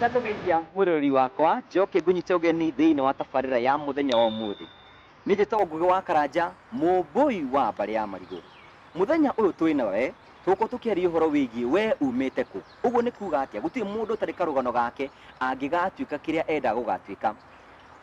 Ndatũgeithia mwĩroreri wakwa, njoke ngũnyite ũgeni thĩinĩ wa tabarĩra ya mũthenya wa ũmũthĩ. Nĩ njĩtwo Ngũgĩ wa Karanja, mũmbũi wa mbarĩ ya marigũ. Mũthenya ũyũ twĩ nawe, tũgũkorwo tũkĩaria ũhoro wĩgiĩ we umĩte kũ. Ũguo nĩ kuga atĩa? Gũtirĩ mũndũ ũtarĩ karũgano gake angĩgatuĩka kĩrĩa endaga gũgatuĩka.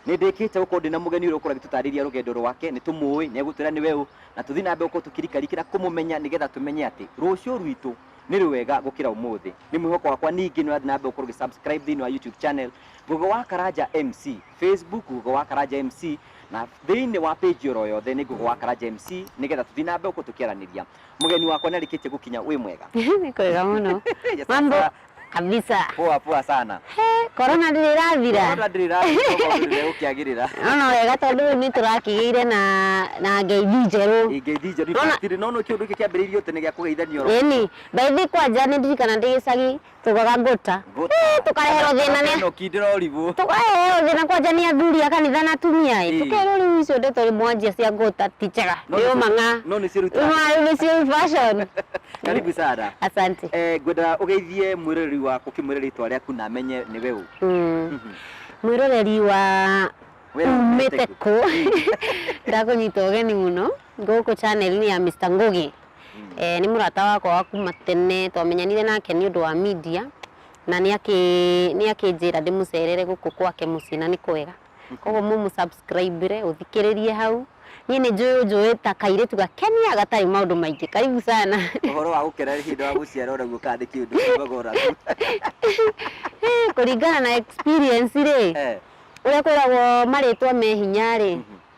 Nĩndĩkĩte gũkorwo ndĩna mũgeni ũyũ ũgũkorwo agĩtũtarĩria rũgendo rwake, nĩtũmũĩ, nĩegũtwĩra nĩwe ũ, na tũthiĩ na mbere gũkorwo tũkĩrikarikĩra kũmũmenya nĩgetha tũmenye atĩ rũciũ rwitũ nĩ rwega gũkĩra ũmũthĩ. Nĩ mwĩhoko wakwa ningĩ nĩũrathiĩ na mbere gũkorwo ũgĩ subscribe thĩinĩ wa YouTube channel Gogo wa Karanja MC, Facebook Gogo wa Karanja MC, na thĩinĩ wa page oro yothe nĩ Gogo wa Karanja MC, nĩgetha tũthiĩ na mbere gũkorwo tũkĩaranĩria. Mũgeni wakwa nĩarĩkĩtie gũkinya, wĩ mwega? Nĩ kwega mũno. Yes, Mambo, sir. kabisa poa poa sana He, korona ndĩrĩ ĩrathira Korona ndĩrĩ ĩrathira ũkĩagĩrĩra ona wega tondũ rĩu nĩ tũrakĩgĩire na na ngeithi njerũ ngeithi njerũ Nona- ibacĩrĩ no nĩ kĩũndũ gĩkĩ kĩambĩrĩirio tene gĩa kũgeithania oro ĩni ngeithi kwanja nĩ ndirikana ndĩ gĩcagi tũgaga ngũta Ngũta. Ĩ, tũkareherwo thĩna nĩ Ĩno kinde no ribũ tũkareherwo thĩna kwanja nĩ athuri a kanitha na atumia ĩ Ĩ. tũkerwo rĩu icio ndeto mwanjia cia ngũta ti njega No nĩ- nĩ ũmang'a no nĩ ciĩrutaga. rĩu nĩcio fashion karibu sana Asante. eh, ngwenda ũgeithie mwĩroreri waku ũkĩmwĩre rĩtwa rĩaku na amenye nĩ we ũ Mm. Mwĩroreri wa Wee umĩte umĩte kũ ndakũnyita ũgeni mũno gũkũ channel-inĩ ya Mr. Ngugi eh, nĩ mũrata wakwa wa kuma tene twamenyanire nake nĩ ũndũ wa media na nĩ akĩ- nĩ akĩnjĩra ndĩmũcerere gũkũ gwake mũciĩ na nĩ kwega koguo mũ mũ subscribe re ũthikĩrĩrie hau niĩ nĩ njũĩ ũnjũĩ ta kairĩtu gakenia gatarĩ maũndũ maingĩ karibu sana Ũhoro wa gũkena nĩ hĩndĩ wa gũciara ũraigua kana nĩ kĩũndũ kiugaga ũraku. Eh, kũringana na experience rĩ Eh, ũrĩa kwĩragwo marĩtwa me hinya rĩ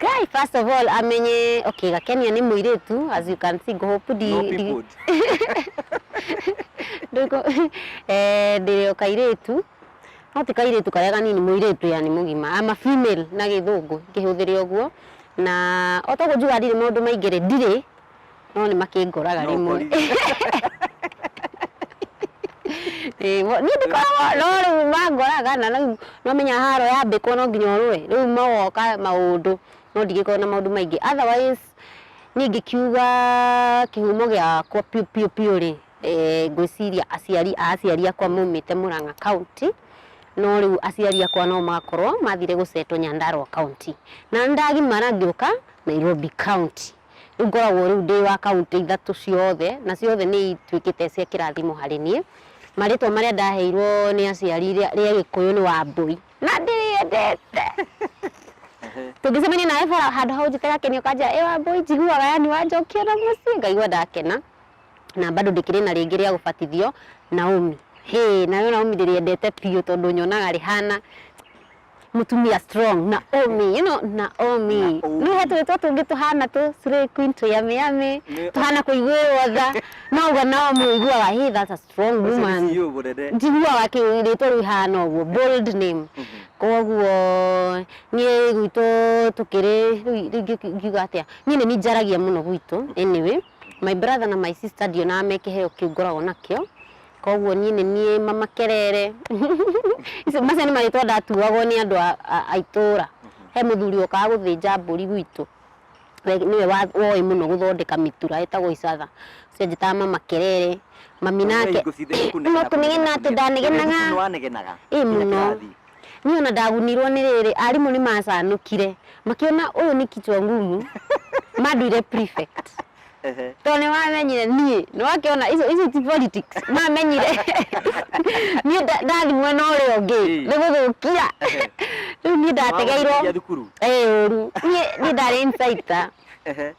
Guy, first of all, amenye, okay, Gakenia ni muiritu, as you can see, Gohopu di... No di- people. Ndiko, eh, ndiri o kairitu. No ti kairitu karia kanini muiritu yani mugima. I'm a female na githungu, ngihuthiria uguo. Na otoguo njuga ndiri maundu maingiri ndiri no nĩ makĩngũraga No rĩmwe ũkori- Ĩĩ, mo- niĩ ndikoragwo no rĩu mangoraga na rĩu nĩ ũmenyaga haro yambĩkwo no nginya ũrũe rĩu magoka maũndũ no ndigĩkorwo na maũndũ maingĩ otherwise niĩ ngĩkiuga kĩhumo gĩakwa biũ biũ biũ rĩ eh, ngwĩciria aciari a aciari akwa maumĩte Mũrang'a kaunti no rĩu aciari akwa no makorwo mathire gũcetwo Nyandarua kaunti na nĩ ndagimara ngĩũka Nairobi kaunti Rĩu ngoragwo rĩu ndĩ wa kaunti ithatũ ciothe, na ciothe nĩ ituĩkĩte cia kĩrathimo harĩ niĩ. Marĩtwa marĩa ndaheirwo nĩ aciari rĩa rĩa Gĩkũyũ nĩ Wambũi, na ndĩrĩendete. Tũngĩcemania nawe bara handũ ha ũnjĩte Gakeni ũkanjĩra ĩ Wambũi, njiguaga yani wanjokia na mũciĩ ngaigua ndakena. Na bado ndĩkĩrĩ na rĩngĩ rĩa gũbatithio, Naomi. Hĩ, narĩo Naomi ndĩrĩendete biũ tondũ nyonaga rĩhana mũtumia strong Naomi you know Naomi Naomi. rĩu he tũrĩtwa tũngĩ tũhana tũ slay queen tũ yummy yummy Nĩ- tũhana kũiguĩrwo tha no ũguo Naomi ũiguaga he that's a strong Ũcio nĩ woman CEO mũnene. njiguaga kĩrĩtwa rĩu ihana ũguo bold name koguo niĩ gwitũ tũkĩrĩ rĩu rĩngĩ ngiuga atĩa niĩ nĩ ninjaragia mũno gwitũ anyway my brother na my sister ndionaga me kĩheo kĩu ngoragwo nakĩo Koguo niĩ nĩ niĩ mama kerere Icio- macio nĩ marĩtwa ndatuagwo nĩ andũ a- a- a itũra he mũthuri okaga gũthĩnja mbũri gwitũ we nĩwe wa- woĩ mũno gũthondeka mĩtura etagwo icatha ũcio anjĩtaga mama kerere mami nake Hingo ciothe nĩ kũnegena, no kũnegena atĩ kũnegena. ndanegenaga Nĩ wanegenaga? Ĩ, Nginya mũno. kĩrathi? Niĩ ona ndagunirwo nĩ rĩrĩ, arimũ nĩ macanũkire makĩona ũyũ nĩ kichwa ngumu manduire prefect Ehe. tondũ nĩ mamenyire niĩ nĩ wakĩona icio icio ti politics mamenyire niĩ nda- ndathi mwena ũrĩa ũngĩ Ĩĩ. nĩ gũthũkia Ehe. rĩu niĩ ndategeirwo Nĩwagũteithia thukuru. ĩĩ ũru niĩ niĩ ndarĩ insider Ehe.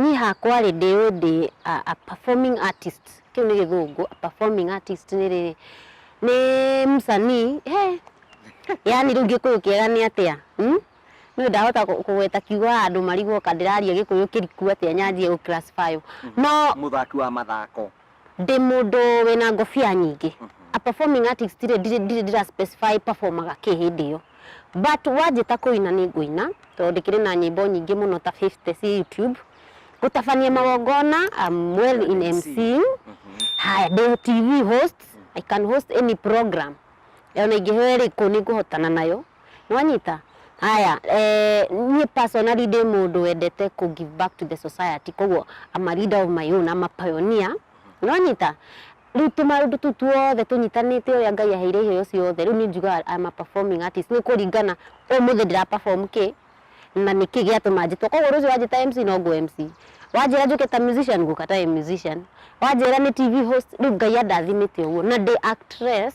Niĩ hakwa rĩ, ndĩ ũũ ndĩ a performing artist, kĩu nĩ gĩthũngũ, a performing artist nĩ rĩrĩ, nĩ msanii, he, yaani rĩu gĩkũyũ kĩega nĩ atĩa? Niĩ ndahota kũgweta kiugo haha ndũmarigwo ka ndĩraria gĩkũyũ kĩriku atĩa nyanjie gũ classify ũ. No. Mũthaki wa mathako. Ndĩ mũndũ wĩna ngobia nyingĩ. A performing artist rĩ, ndirĩ ndirĩ ndĩra specify performaga kĩ hĩndĩ ĩyo. But wanjĩta kũina nĩ ngũina, tondũ ndĩkĩrĩ na nyĩmbo nyingĩ mũno ta 50 ciĩ YouTube. Gũtabania magongona, I'm well in emceeing. Haya, ndĩ TV host, I can host any program. Ona ingĩheo ĩrĩkũ nĩ ngũhotana nayo. nĩwanyita? Haya, eh, niĩ personally ndĩ mũndũ wendete kũ give back to the society koguo I'm a leader of my own, I'm a pioneer nĩwanyita? rĩu tũmaũndũ tũu tuothe tũnyitanĩte ũrĩa ngai aheire iheo ciothe rĩu niĩ njugaga I'm a performing artist nĩ kũringana ũmũthĩ ndĩra perform kĩ na nĩ kĩ gĩatũma njĩtwo koguo rũciũ wanjĩta MC no ngũ MC wanjĩra njũke ta musician ngũka ta musician wanjĩra nĩ TV host rĩu ngai andathimĩte ũguo na ndĩ actress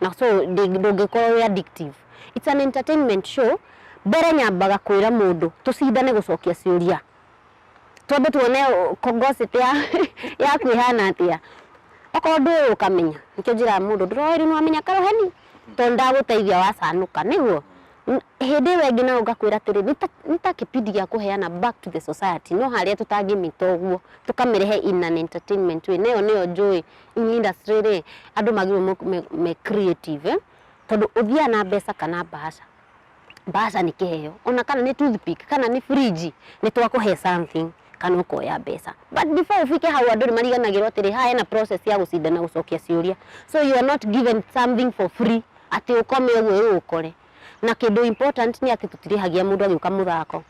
na so ndĩ- ndũngĩkorwo wĩ addictive. It's an entertainment show, mbere nyambaga kwĩra mũndũ tũcindane gũcokia ciũria twambe tuone ũ- ko- gossip ya yaku ĩhana atĩa okorwo ndũĩ ũkamenya nĩkĩo njĩraga mũndũ ndũroĩ rĩu nĩwamenya karoheni tondũ ndagũteithia wacanũka nĩguo N- hĩndĩ ĩyo ĩngĩ nayo ngakwĩra atĩrĩ nĩ ta- nĩ ta kĩbindi gĩa kũheana back to the society no harĩa tũtangĩmĩta ũguo tũkamĩrehe in an entertainment way na ĩyo nĩyo njũĩ industry rĩ, andũ magĩrĩirwo mok- me- me creative eh, tondũ ũthiaga na mbeca kana mbaca mbaca nĩ kĩheo ona kana nĩ toothpick kana nĩ fridge nĩ twakũhe something kana ũkoya mbeca but before ũbike hau andũ nĩ mariganagĩrwo atĩrĩ haha hena process ya gũcinda na gũcokia ciũria so you are not given something for free atĩ ũkome ũguo ĩĩ ũkore na kĩndũ important nĩ atĩ tũtirĩhagia mũndũ agĩũka mũthako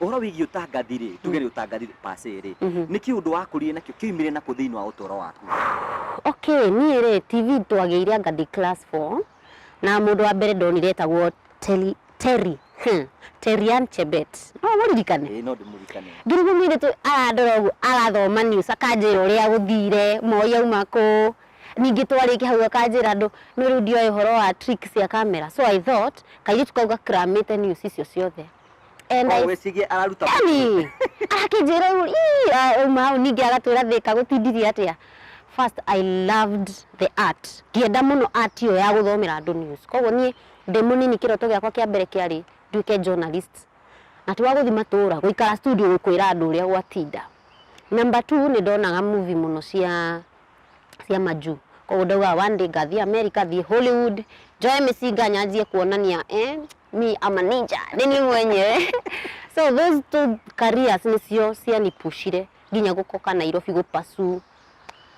Ũhoro wĩgiĩ ũtangathi-rĩ, tuge nĩ ũtangathi per se-rĩ, nĩ kĩũndũ wakũrire nakĩo, kĩoimire nakũ thĩinĩ wa ũtũũro waku? Okay, niĩ-rĩ, TV twagĩire anga ndĩ class four, na mũndũ wa mbere ndonire etagwo Terry, Terry, hmm, Terry Ann Chebet. No ũmũririkane? Ĩĩ no ndĩmũririkane. Ngĩrigwo mũirĩtu arandora ũguo, arathoma news, akanjĩra ũrĩa gũthire, Moi auma kũ, ningĩ twarĩkia hau akanjĩra andũ, no rĩu ndioĩ ũhoro wa trick cia camera, so I thought kairĩtu kau gakramĩte news icio ciothe. And I- wĩcigie araruta yani akĩnjĩra ũguo "Ii, ah, uma hau ningĩ agatwĩra thĩka gũtindirie atĩa first i loved the art ngĩenda mũno art ĩyo ya gũthomera andũ news koguo niĩ ndĩ mũnini kĩroto gĩakwa kĩa mbere kĩarĩ nduĩke journalist na ti wa gũthi matũũra gũikara studio gũkwĩra andũ ũrĩa gwatinda number two nĩ ndonaga movie mũno cia cia majuu koguo ndaugaga one day ngathiĩ america thiĩ hollywood njoe mĩcinga nyanjie kuonania eh, me am a ninja nĩ niĩ mwenyewe so those two careers nĩcio cianipushire nginya gũkoka Nairobi gũ pursue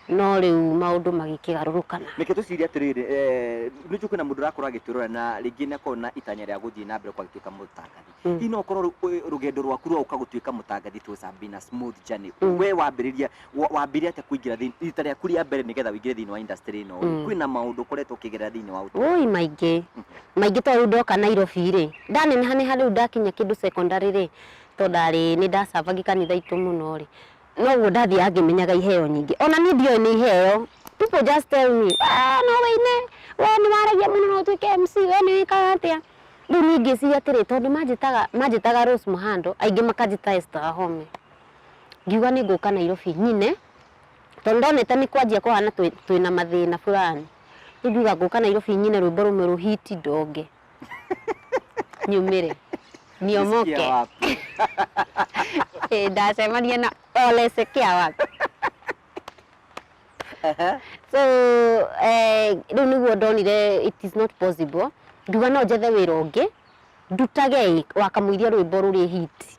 no rĩu maũndũ magĩkĩgarũrũkana Reke twĩcirie atĩrĩrĩ, eh, nĩ njũĩ kwĩna mũndũ ũrakorwo agĩtwĩrora na rĩngĩ nĩ akorwo na itanya rĩa gũthiĩ na mbere kwa gũtuĩka mũtangathi. Hihi no ũkorwo rũ- ĩ- rũgendo rwaku rwa gũka gũtuĩka mũtangathi it was a been a smooth journey. We wambĩrĩria wa- wambire atĩa kũingĩra thĩinĩ rita rĩaku rĩa mbere nĩgetha ũingĩre thĩinĩ wa industry ĩno rĩ, Mm. kwĩna maũndũ ũkoretwo ũkĩgerera thĩinĩ wa ũtũũro Woi maingĩ maingĩ to rĩu ndoka Nairobi rĩ ndaneneha neha rĩu ndakinya kĩndũ secondary rĩ to ndarĩ nĩ ndacabagi kanitha itũ mũno rĩ noguo ndathiaga ngĩmenyaga iheo nyingĩ ona niĩ ndioĩ nĩ iheo people just tell me "Ah, no wĩine we nĩ waragia mũno no ũtuĩke MC we nĩ wĩkaga atĩa rĩu niĩ ngĩciria atĩrĩ tondũ manjĩtaga manjĩtaga Rose Muhando aingĩ makanjĩta Esther Wahome ngiuga nĩ ngũka Nairobi nyine tondũ ndonete nĩ kwanjia kũhana twĩ- twĩna mathĩna fulani rĩu ngiuga ngũka Nairobi nyine rwĩmbo rũmwe rũhiti ndonge nyumĩre niomoke Sikia wapi? Ĩ, ndacemania na olese kĩa wapi so eh, rĩu nĩguo ndonire it is not possible nduga no njethe wĩra ũngĩ ndutage ĩ, wakamũiria rwĩmbo rũrĩ hiti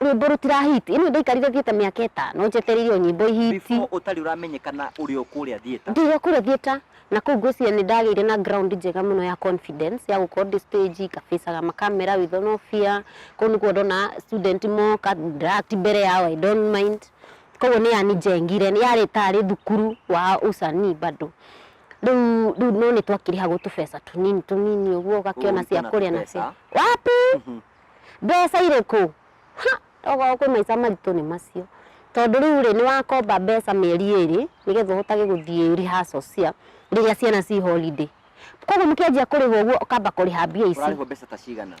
Rwĩmbo rũtira hit. Ĩno ndaikarire theater mĩaka ĩtano njetereirio nyĩmbo ihiti. Before ũtarĩ ũramenyekana ũrĩ o kũrĩa theater? Ndĩ o kũrĩa theater, na kũu ngwĩciria nĩ ndagĩire na ground njega mũno ya confidence ya gũkorwo ndĩ stage nga facaga ma camera with no fear. Kũu nĩkuo ndona student moka, ndĩra act mbere yao I don't mind. Kũguo nĩ yanijengire, yarĩ tarĩ thukuru wa ũcanii bado. Rĩu rĩu no nĩ twakĩrĩhagwo tũbeca tũnini tũnini ũguo ũgakĩona Ũĩ cia kana kũrĩa na tũbeca? cia. Wapi! Mbeca irĩkũ? Ha! Tokorwo kwĩ maica maritũ nĩ macio. Tondũ rĩu rĩ, nĩ wakomba mbeca mĩeri ĩrĩ, nĩgetha ũhotage gũthiĩ rehearsal cia rĩrĩa ciana ci holiday. Kwoguo mũkĩanjia kũrĩhwo ũguo ũkamba kũrĩha mbia ici. Ũrarĩhwo mbeca ta cigana?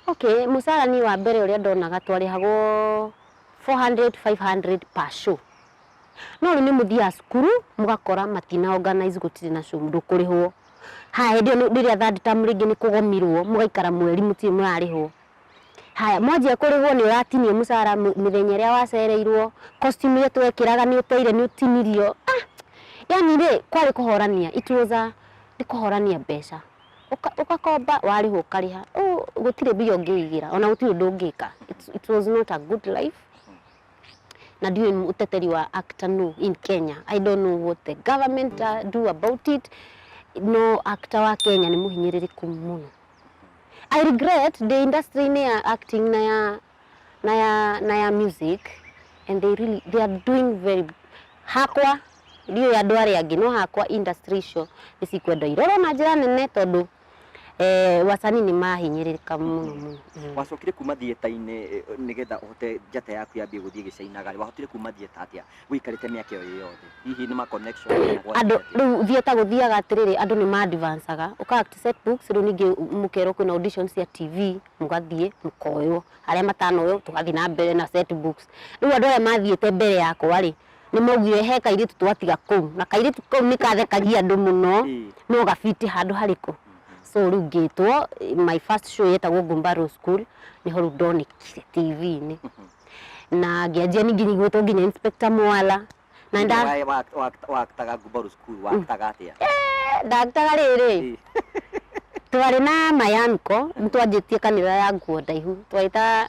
Okay, mũcara niĩ wa mbere ũrĩa ndonaga twarĩhagwo 400, 500 per show. No rĩu nĩ mũthiaga cukuru, mũgakora matina organize gũtirĩ na show ndũkũrĩhwo. Haya hĩndĩ ĩyo rĩrĩa third term rĩngĩ nĩ kũgomirwo mũgaikara mweri mũtirĩ mũrarĩhwo. Haya mwanjia kũrĩhwo nĩ ũratinio mũcara mĩthenya ĩrĩa wacereirwo, costume iria twekĩraga nĩ ũteire nĩ ũtinirio. Ah! Yaani rĩ kwarĩ kũhorania, it was a nĩ kũhorania mbeca. Ũgakomba warĩhwo ũkarĩha. Ũũ gũtirĩ mbia ũngĩigĩra ona gũtirĩ ũndũ ũngĩka. It was not a good life. na ndiũĩ mũteteri wa actor no in Kenya. I don't know what the government uh, do about it. No actor wa Kenya nĩ mũhinyĩrĩrĩku mũno. I regret the industry-inĩ ya acting na ya na ya na ya music and they really they are doing very hakwa ndiũĩ andũ arĩa angĩ no hakwa industry icio nĩ cikwenda irorwo na njĩra nene tondũ Eh, wacani nĩ mahinyĩrĩka mũno mũno Mm. wacokire kuma thieta-inĩ eh, nĩgetha ũhote njata yaku yambie gũthiĩ gĩcainaga rĩ wahotire kuma thieta atĩa wĩikarĩte mĩaka ĩyo ĩ yothe hihi nĩ ma connection kana gwathiĩ andå atĩa? rä u thieta gå thiaga atä rä rä andå nä mandivancaga å ka rä u ningä må kerwo kwä na audition cia tv må gathiä må koywo arä a matanoywo tå gathiä na mbere na set books. rä u andå arä a mathiä te mbere yakwa rä Nĩ maugire he kairĩtu twatiga kũu na kairĩtu kau nĩ kathekagia andũ mũno Ĩĩ. no gabiti handũ harĩkũ so rĩu ngĩtwo my first show yetagwo Gumbaru School nĩho rĩu ndonekire TV-inĩ na ngĩanjia ningĩ nyiguĩtwo nginya Inspector Mwala na nda Wae- wa- wa- waktaga Gumbaru School, waktaga atĩa? ndaktaga rĩrĩ Ĩĩ. twarĩ na mayanko nĩ twanjĩtie kanitha ya nguo ndaihu twahĩta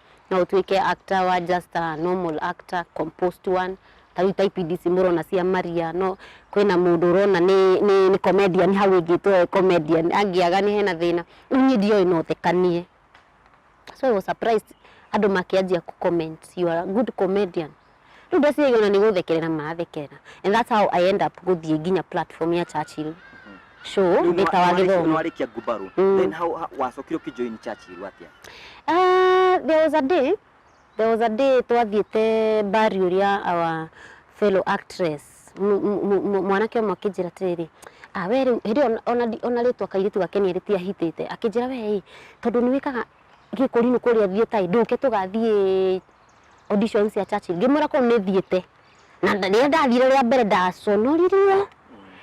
no ũtuĩke actor wa just a normal actor, composed one, ta rĩu ta ibindi ici mũrona cia Maria, no kwĩna mũndũ ũrona nĩ nĩ nĩ comedian hau ĩngĩ ĩtwo e comedian, angĩaga nĩ hena thĩna, rĩu niĩ ndioĩ no thekanie. So I was surprised andũ makĩanjia kũ comment you are a good comedian. rĩu ndeciria ona nĩ gũthekerera marathekerera and that's how I end up gũthiĩ nginya platform ya Churchill show ndĩ ta wa gĩthomo nwarĩkia ngumbarũ Mm. then how how- wacokire ũkĩjoin Churchill atĩa Ah, there was a day there was a day twathiĩte mbari ũrĩa our fellow actress mu- mu- mu- mu- mwanake ũmwe akĩnjĩra atĩrĩrĩ ah, we rĩu hĩndĩ ĩyo ona- ona ndi- ona rĩtwa kairĩtu gake nĩ erĩti ahitĩte akĩnjĩra we ĩ tondũ nĩ wĩkaga gĩkũrinũ kũrĩa thiĩ tai ndũke tũgathiĩ audition cia Churchill ngĩmwĩra kũu nĩ thiĩte na nda- rĩrĩa ndathire rĩa mbere ndaconoririe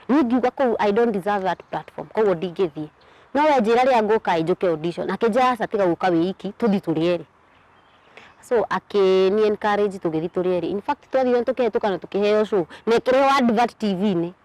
niĩ ngiuga kũu I don't deserve that platform koguo ndingĩthiĩ no we njĩra rĩrĩa ngũka ĩ njũke audition akĩnjĩra aca tiga gũka wĩ iki tũthi tũrĩ erĩ so akĩni encourage tũgĩthi tũrĩ erĩ in fact twathire tũkĩhetũka na tũkĩheo show na ĩkĩrehwo advert TV-inĩ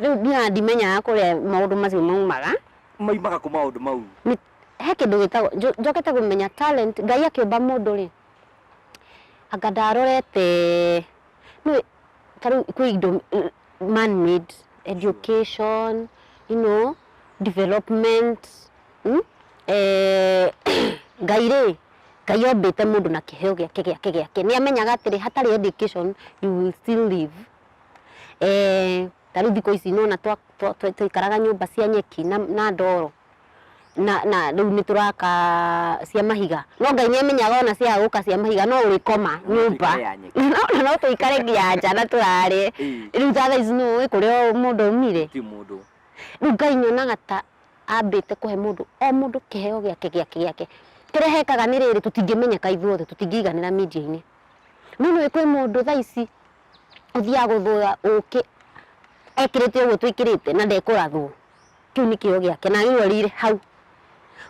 rĩu nginya ndimenyaga kũrĩa maũndũ macio maumaga maimaga kũ maũndũ mau Nĩ- he kĩndũ gĩtagwo njo- njokete kũmenya talent ngai akĩũmba mũndũ rĩ anga ndarorete no ta rĩu kwĩ indo eh, man made education you know development mm? eh, ngai rĩ ngai ombĩte mũndũ na kĩheo gĩake gĩake gĩake nĩ amenyaga atĩrĩ hatarĩ education you will still live eh, ta rĩu thikũ ici nona twaikaraga nyũmba cia nyeki na, na ndoro na na rĩu nĩ tũraka cia mahiga no ngai nĩ amenyaga ona ciaga gũka cia mahiga no ũrĩkoma nyũmba tũikare ya nyeki. no no tũikare nginya nja na tũrare Ĩĩ. rĩu ta thaa ici nĩ ũĩ kũrĩa mũndũ aumire ti mũndũ rĩu ngai nyonaga ta ambĩte kũhe mũndũ o mũndũ kĩheo gĩake gĩake gĩake kĩrĩa hekaga nĩ rĩrĩ tũtingĩmenyeka ithuothe tũtingĩiganĩra media-inĩ no nĩ ũĩ kwĩ mũndũ thaa ici ũthiaga gũthũya ũkĩ ekĩrĩte ũguo twĩkĩrĩte na ndekũrathwo Kĩu nĩ kĩo gĩake na agĩrwarĩire hau.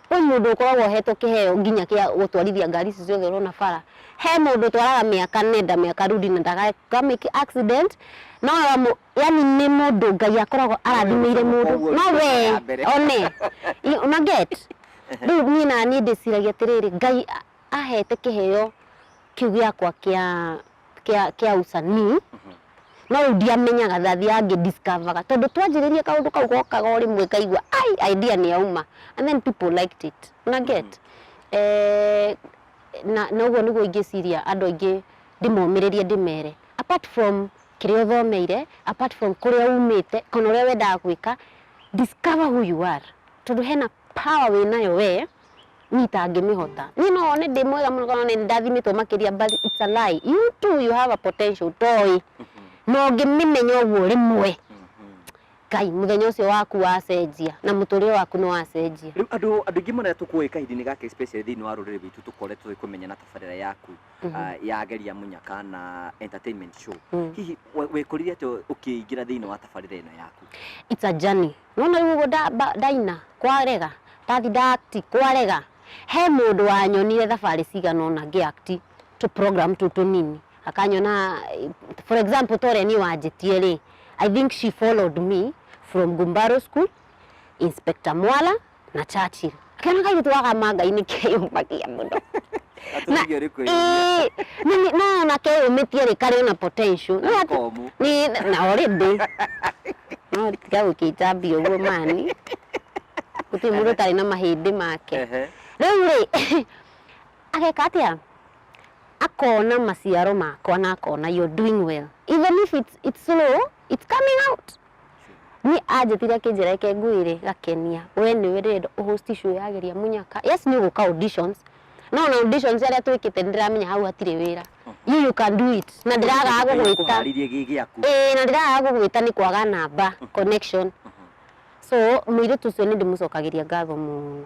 Kwĩ mũndũ ũkoragwo ohetwo kĩheo nginya kĩa gũtwarithia ngari ici ciothe ũrona bara. He mũndũ ũtwaraga mĩaka nenda mĩaka rudi na ndaka make accident no yani nĩ mũndũ Ngai akoragwo arathimĩire mũndũ no we one una get rĩu niĩ naniĩ ndĩciragia atĩrĩrĩ Ngai ahete kĩheo kĩu gĩakwa kĩa kĩa kĩa usanii no rĩu ndiamenyaga ndathiaga ngĩ discover tondũ twanjĩrĩirie kaũndũ kau gokaga o rĩmwe ngaigua ai idea nĩ yauma and then people liked it una get eh, na na ũguo nĩguo ingĩciria andũ aingĩ ndĩmomĩrĩrie ndĩmere apart from kĩrĩa ũthomeire apart from kũrĩa umĩte kana ũrĩa wendaga gwĩka discover who you are tondũ hena power wĩnayo wee Niĩ itangĩmĩhota. Niĩ no one ndĩ mwega mũno kana nĩ ndathimĩtwo makĩria but it's a lie. You too you have a potential ũtoĩ. Na ũngĩmĩmenya ũguo rĩmwe, Ngai mũthenya ũcio waku wacenjia na mũtũrĩre waku nĩ wacenjia. Rĩu andũ andũ aingĩ marĩa tũkũĩ kahinda-inĩ gaka especially thĩinĩ wa rũrĩrĩ rwitũ tũkoretwo tũĩ kũmenyana tabarĩra yaku ah, ya Geria Mũnyaka na entertainment show. Hihi we- wekũrire atĩa ũkĩingĩra thĩinĩ wa tabarĩra ĩno yaku? It's a journey. No na rĩu ũguo ndaina kwarega, ndathi nda act kwarega, he mũndũ wanyonire thabarĩ cigana ũna ngĩ act tũ program tũu tũnini, akanyona for example ta ũrĩa niĩ wanjĩtie rĩ, I think she followed me from Gumbaru school, Inspector Mwala, na Churchill akĩona kairĩtu gaka ma ngai nĩ keyũmbagia mũno na Atũrigio nĩ kwĩyũria. ĩĩ, na nĩ- no ona keyũmĩtie rĩ karĩ ona potential no ati- Komũ. nĩ na already no tiga gũkĩnjambia ũguo mani gũtirĩ mũndũ ũtarĩ na mahĩndĩ make Ehe. rĩu rĩ ageka atĩa akona maciaro makwa na akona you're doing well even if it's, it's slow it's coming out Niĩ anjĩtire akĩnjĩra reke ngwĩre Gakenia, we nĩwe ndĩrenda ũ host show ya Geria Mũnyaka. Yes nĩ ũgũka auditions, no ona auditions arĩa twĩkĩte nĩndĩramenya hau hatirĩ wĩra. You you can do it. Na ndĩragaga Ngai gũgwĩta. akũhaarĩrie gĩ gĩaku Ĩĩ na ndĩragaga gũgwĩta nĩ kwaga namba, connection. So mũirĩtu ũcio nĩndĩmũcokagĩria ngatho mũno.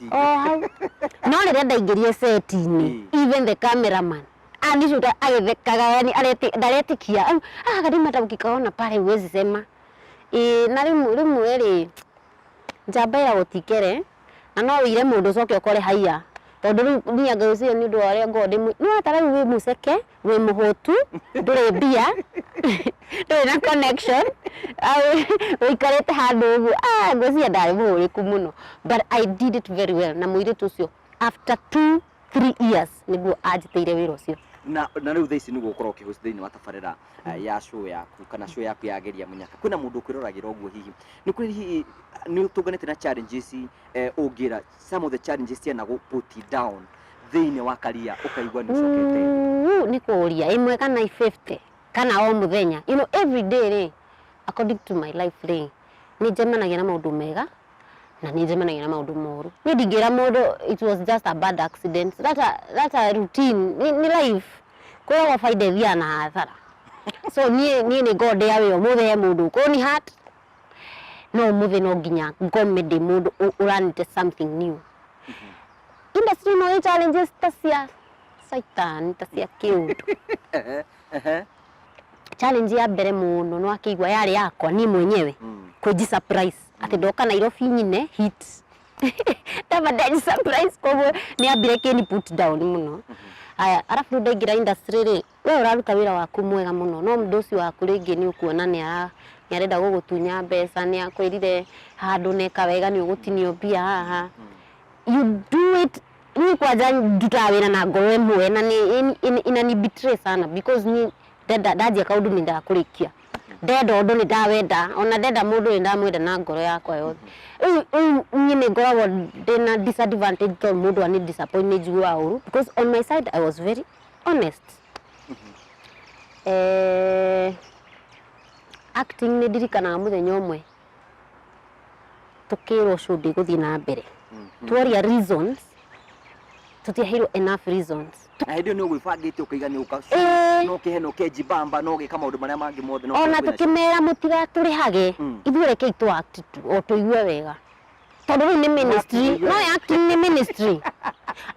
tingĩ. o hau no rĩrĩa ndaingĩrie seti-inĩ Ĩ. even the cameraman anicuta agĩthekaga yani areti- ndaretikia au ah kadima hata ukikaona pale huwezi sema Ĩ, na rĩmwe rĩmwe rĩ njamba ya gũtikere na no wĩire mũndũ ũcoke ũkore haiya tondũ rĩu niĩ anga ũcio nĩ ũndũ wa ũrĩa ngoragwo ndĩmwĩ no atara rĩu wĩ mũceke wĩ mũhũtu ndũrĩ mbia ndũrĩ na connection ũikarĩte handũ ũguo ah, ngwĩciria ndarĩ mũhũrĩku mũno but I did it very well na mũirĩtu ũcio after two three years nĩguo anjĩtĩire wĩra ũcio na na rä u thaa ici nä gå korwo kä gå thä inä wa tabarä ra eh, ya cå yaku kana cå yaku ya geria må nyaka kwä na må ndå å kwä roragä ra å guo hihi nä kwä hihi nä å tå nganä te na challenges, eh, å ngä ra Some of the challenges ciana go put it down thĩinĩ wa karia ũkaigua nĩ ũcokete Uu, nĩ kũria ĩmwe kana i 50 kana o mũthenya you know, every day rĩ according to my life rĩ nĩ njemanagia na maũndũ mega na nĩ njemanagia na maũndũ moru niĩ ndingĩra mũndũ it was just a bad accident that a, that a routine nĩ, nĩ life kwĩragwo baida ĩthiaga na hathara so niĩ niĩ nĩ ngondĩa wĩ ũmũthĩ he mũndũ ũkũni hat no ũmũthĩ no nginya ngome ndĩ mũndũ ũ- ũranĩte something new industry ĩno ĩ challenges ta cia saitan ta cia kĩũndũ challenge ya mbere mũno nĩ wakĩigua yarĩ yakwa niĩ mwenyewe Mm. kwĩnji surprise atĩ ndoka nairobi nyine hit ndaba ndenji surprise koguo nĩ ambire kĩni put down mũno aya arabu rĩu ndaingĩra industry rĩ Wee ũraruta wĩra waku mwega mũno no mũndũ ũcio waku rĩngĩ nĩ ũkuona nĩ ara nĩ arenda gũgũtunya mbeca nĩ akwĩrire handũ neka wega nĩ ũgũtinio mbia haha you do it niĩ kwanja ndutaga wĩra na ngoro ĩmwe na nĩ ĩni- ĩni- inani betray sana because niĩ ndenda ndanjia kaũndũ nĩ nyendaga kũrĩkia ndenda ũndũ nĩ ndawenda ona ndenda mũndũ nĩ ndamwenda na ngoro yakwa yothe rĩu rĩu niĩ nĩ ngoragwo ndĩna disadvantage tondũ mũndũ anĩ disappoint nĩ njiguaga ũru because on my side I was very honest eh, acting nĩ ndirikanaga mũthenya ũmwe tũkĩrwo show ndĩgũthiĩ na mbere tuoria reasons tũtiaheirwo enough reasons na hĩndĩ ĩyo nĩ ũgwĩbangĩte ũkaiga nĩ ũka Ĩĩ. no kĩhe no kenji bamba no gĩka maũndũ marĩa mangĩ mothe no ona kwĩna- tũkĩmera mũtigatũrĩhage Mm. ithuĩ rekei tũ act tu o tũigue wega tondũ rĩu nĩ ministry Wakĩiga. no acting nĩ ministry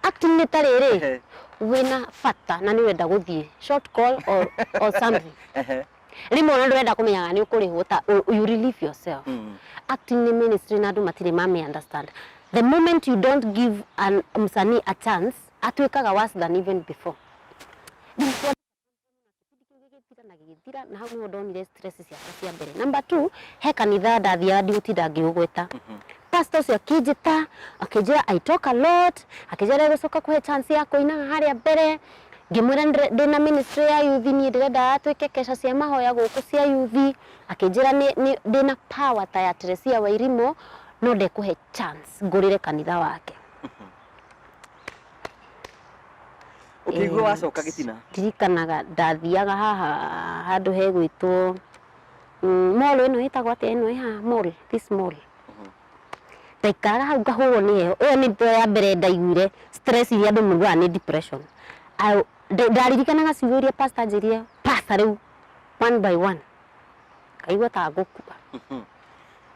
acting nĩ ta rĩrĩ Ehe. wĩna bata na nĩ wenda gũthiĩ short call or, or something Ehe. rĩmwe ona ndũrenda kũmenya kana nĩ ũkũrĩhwo ta u- you relieve yourself Mm. acting nĩ ministry na andũ matirĩ mame understand the moment you don't give an msanii a chance atuĩkaga worse than even before na hau nĩho ndonire stress ciakwa cia mbere number two he kanitha ndathiaga ndigũtinda ngĩũgweta pastor ũcio akĩnjĩta akĩnjĩra i talk a lot akĩnjĩra ndegũcoka kũhe chance ya kũinaga harĩa mbere ngĩmwĩra nĩndĩre- ndĩ na ministry ya yuthi niĩ ndĩrenda atuĩke kesha cia mahoya gũkũ cia yuthi akĩnjĩra nĩ- nĩ- ndĩ na power ta ya Teresia Wairimo no ndekũhe chance ngũrĩre kanitha wake Ũkĩigua Ĩĩ, wacoka gĩtina. ndirikanaga ndathiaga haha handũ hegwĩtwo mm, mall ĩno ĩtagwo atĩa ĩno ĩ haha mall this mall ndaikaraga hau ngahũrwo nĩ heho ĩyo nĩ ndio ya mbere ndaiguire stress iria andũ maiguaga nĩ depression Au- nda- ndaririkanaga ciugo iria pastor anjĩrire pastor rĩu one by one ngaigua ta ngũkua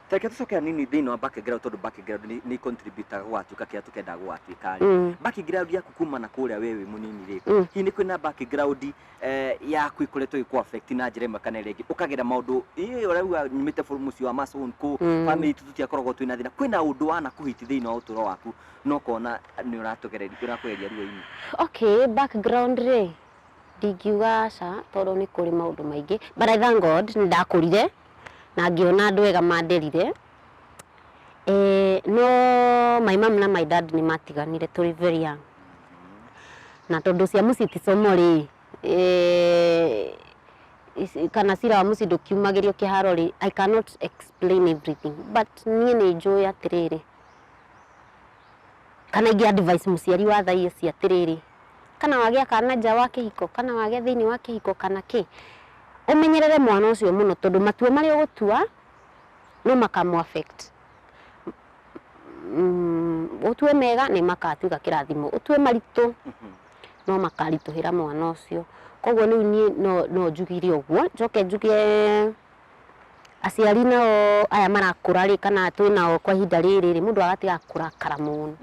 Tareke tucoke hanini thiini wa background tondu background ni ni contributaga gugatuika kiria tukendaga gugatuika ri Mm. background yaku kuma na kuria we wi munini ri Mm. hihi ni kwina background eh, yaku ikoretwo iku affect na njira imwe kana iria ingi ukagera maundu ii urauga nyumite buru muci wa masun ku Mm. family itu tutiakoragwo twina thina kwina undu wana kuhiti thiini wa uturo waku no kona ni uratugereria urakugeria ruo-ini okay background rĩ ndingiuga aca tondũ nĩ kũrĩ maũndũ maingĩ but I thank God nĩ ndakũrire na ngĩona andũ ega manderire. No my mum na my dad nĩ matiganire tũrĩ very young. Na tondũ cia mũciĩ ti somo rĩ, kana cira wa mũciĩ ndũkiumagĩrio kĩharo rĩ, I cannot explain everything but niĩ nĩ njũĩ atĩrĩrĩ. kana ingĩ advice mũciari wa thaa ici atĩrĩrĩ, kana wagĩa kana nja wa kĩhiko, kana wagĩa thĩinĩ wa kĩhiko kana kĩ, ũmenyerere mwana ũcio mũno tondũ matua marĩa ũgũtua no makamũ affect. Ũtue mega nĩ magatuĩka kĩrathimo, ũtue maritũ no makaritũhĩra mwana ũcio. Koguo rĩu niĩ no njugire ũguo, njoke njuge... Aciari nao aya marakũra rĩ kana twĩnao kwa ihinda rĩrĩ rĩ mũndũ agatiga kũrakara mũno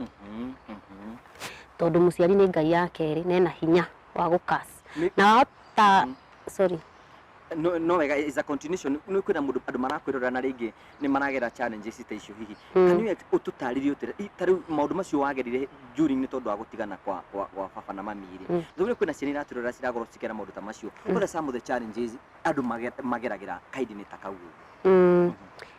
tondũ mũciari nĩ ngai ya kerĩ na ena hinya wa gũkas Nĩ- na wahota sorry no no wega is a continuation nä kwä na må ndå andå marakwä rora na rä ngä nä maragera challenges ta icio hihi Mm. can you å tå tarä ta rä u maå ndå macio wagerire during nä tondå wa gå tigana kwa kwa- kwa baba na mami rä Mm. thå kwä na ciana iratä rora ciragorwo cikera maå ndå ta macio what are some of the challenges andũ mage- mageragĩra kaidinĩ ta kau ũguo Mm.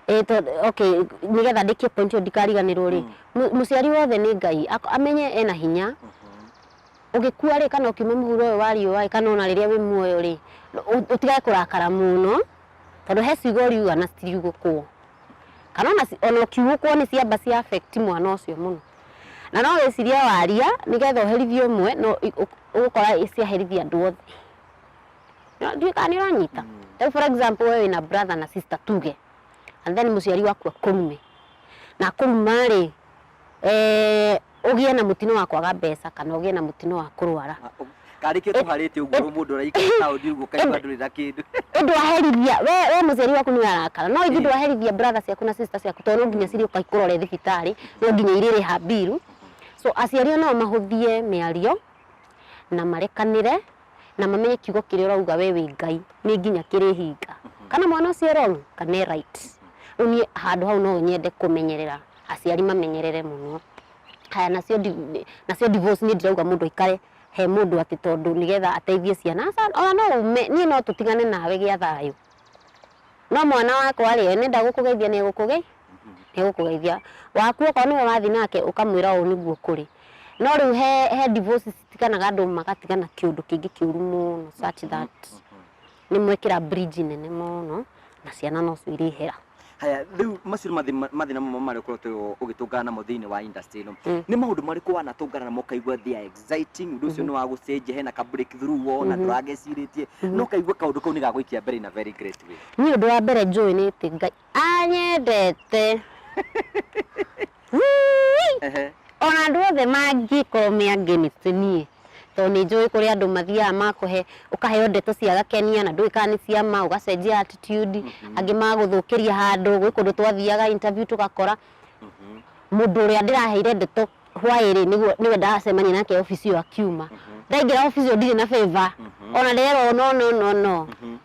Eh, to- okay nigetha ndĩkie point ĩyo ndikariganĩrwo rĩ Mm. mu- mũciari wothe nĩ ngai Ak- amenye ena hinya Mhm. ũgĩkua rĩ kana ũkiuma mũhuro ũyũ wa riũa rĩ kana ona rĩrĩa wĩ muoyo rĩ ũ- ũtigage kũrakara mũno tondũ he ciugo ũriuga na citiriugũkwo kana ona ci- ona ũkiugũkwo nĩ ciamba cia affect mwana ũcio mũno na no wĩciria waria nĩgetha ũherithie ũmwe no i- ũ- ũgũkora ciaherithia andũ othe Nĩ- ndiũĩ kana nĩ ũranyita rĩu for example we wĩna brother na sister tuge and then mũciari waku akũrume na akũruma rĩ eh, ũgĩe na mũtino wa kwaga mbeca kana ũgĩe na mũtino wa kũrwara karĩkio tũharĩte ũguo rĩu mũndũ ũraikara taũni ũguo kaigua ndũrĩ na kĩndũ ndwaherithia we we mũciari waku nĩ arakara no ithuĩ Ĩĩ. ndwaherithia brother ciaku na sister ciaku tondũ no nginya cirĩ ũka ikũrore thibitarĩ no nginya irĩrĩha mbiru so aciari o nao mahũthie mĩario na marekanĩre na mamenye kiugo kĩrĩa ũrauga we wĩ ngai nĩ nginya kĩrĩhinga kana mwana ũcio e wrong kana e right rĩu niĩ handũ hau no nyende kũmenyerera aciari mamenyerere mũno haya nacio ndi- nacio divorce niĩ ndirauga mũndũ aikare he mũndũ atĩ tondũ nĩgetha ateithie ciana Aca- ona no ume niĩ no tũtigane nawe gĩa thayũ no mwana wakwa rĩ nenda gũkũgeithia nĩ egũkũgeithia nĩgũkũgeithia waku okorwo nĩwe wathi nake ũkamwĩra ũũ nĩguo kũrĩ no rĩu he, he divorce tiganaga andũ magatigana kĩũndũ kĩngĩ kĩũru mũno such that nĩ mwekĩra bridge nene mũno na ciana nocio irĩhera haya rĩu macio nĩ mathĩ- mathĩna mamwe marĩa ũkoretwo ũgĩtũngana namo thĩinĩ wa industry ĩno Mm. nĩ maũndũ marĩkũ wanatũngana namo ũkaigua they are exciting ũndũ ũcio nĩ wa gũcenjia hena ka break through wona ndũragecirĩtie no kaigua kaũndũ kau nĩ gagũikia mbere in a very great way niĩ ũndũ wa mbere njũĩ nĩ atĩ Ngai- Anyendete. Wuu-ii. Ona andũ othe mangĩkorwo me against niĩ tondũ nĩ njũĩ kũrĩ andũ mathiaga makũhe ũkaheo ndeto cia gakenia na ndũĩ kana nĩ cia ma ũgacenjia attitude angĩ magũthũkĩria handũ gwĩ kũndũ twathiaga interview tũgakora mũndũ ũrĩa ndĩraheire ndeto hwaĩrĩ nĩguo nĩwe ndacemania nake obici ĩyo akiuma ndaingĩra obici ĩyo ndirĩ na favor ona nderwo no no no no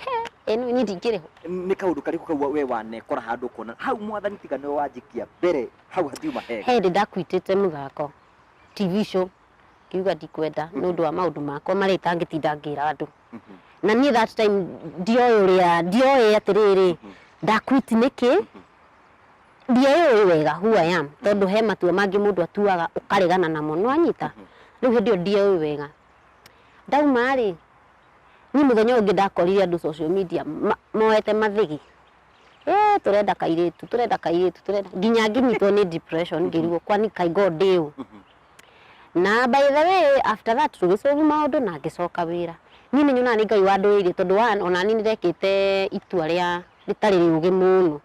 He, ĩno niĩ ndingĩrĩ ho. nĩ kaundu kariku kau we wanekora handu ukona hau mwathani tiga niwe wanjikia mbere hau hatiuma hega He hĩndĩ ndakuitĩte mũthako TV show ngiuga ndikwenda nĩ ũndũ wa maũndũ makwa marĩa itangĩtinda ngĩra andũ Mhm. na niĩ that time ndioĩ ũrĩa ndioĩ atĩrĩrĩ ndakuiti nĩkĩ ndioĩ wega who I am tondũ he matua mangĩ mũndũ atuaga ũkaregana namo nĩwanyita rĩu hĩndĩ ĩyo ndioĩ wega ndauma rĩ Niĩ mũthenya ũyũ ũngĩ ndakorire andũ social media ma- moete mathĩgĩ Eh, tũrenda kairĩtu tũrenda kairĩtu tũrenda nginya ngĩnyitwo nĩ depression ngĩrigwo kwani kai god ndĩ ũ na by the way after that tũgĩcovu maũndũ na ngĩcoka wĩra niĩ nĩ nyonaga nĩ ngai wandũĩire tondũ wa ona niĩ nĩndekĩte itua rĩa rĩtarĩ rĩũgĩ mũno